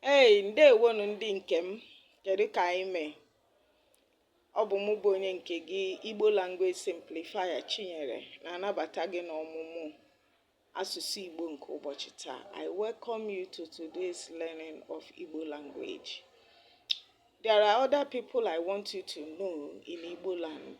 Hey, ndewonu ndị nke m kedu ka anyị mee ọ bụ mụ bụ onye nke gị Igbo Language Simplifier Chinyere na-anabata gị n'ọmụmụ asụsụ Igbo nke ụbọchị taa I welcome you to today's learning of Igbo language there are other people I want you to know in Igbo land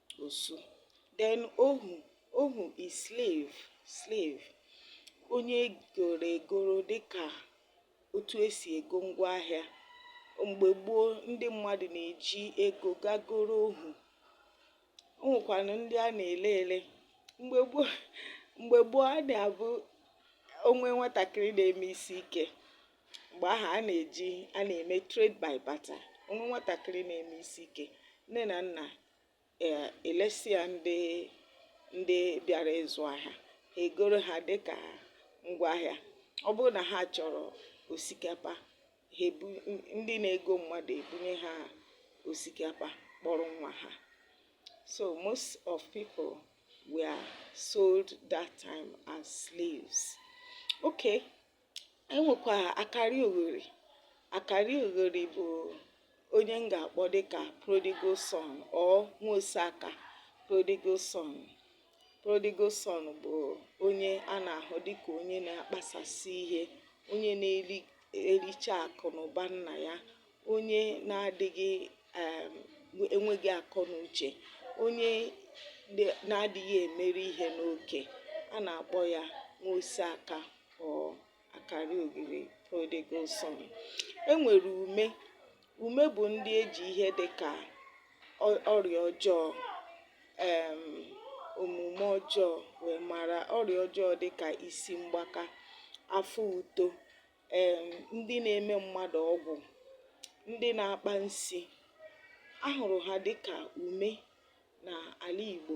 Osu. Then ohu, ohu is slave, slave. Onye egoro egoro dịka otu esi ego ngwa ahịa. Mgbe gboo ndị mmadụ na-eji ego gaa goro ohu. O nwekwanụ ndị a na-ele ele. Mgbe gboo mgbe gboo a na-abụ o nwee nwatakịrị na-eme isi ike mgbe ahụ a na-eji a na-eme trade by barter o nwee nwatakịrị na-eme isi ike nne na nna eh, elesi ya ndị ndị bịara ịzụ ahịa ha egoro ha dịka ngwaahịa ọ bụrụ na ha chọrọ osikapa ha ebu ndị na-ego mmadụ ebunye ha osikapa kpọrọ nwa ha so most of people were sold that time as slaves okay anyị nwekwa akari oghori akari oghori bụ onye m ga-akpọ dịka prodigal son or nwa osi aka prodigal son prodigal son bụ onye a na-ahụ dịka onye na-akpasasị ihe onye na-ericha akụ na ụba nna ya onye na-adịghị um, enweghị akọ na uche onye na-adịghị emeru ihe n'oke a na-akpọ ya nwa osi aka or akari oghori prodigal son e nwere ume ume bụ ndị eji ihe dị ka ọrịa ọjọọ um omume ọjọọ wee mara ọrịa ọjọọ dị ka isi mgbaka afọ uto um ndị na-eme mmadụ ọgwụ, ndị na-akpa nsi, a hụrụ ha dịka ume n'ala Igbo.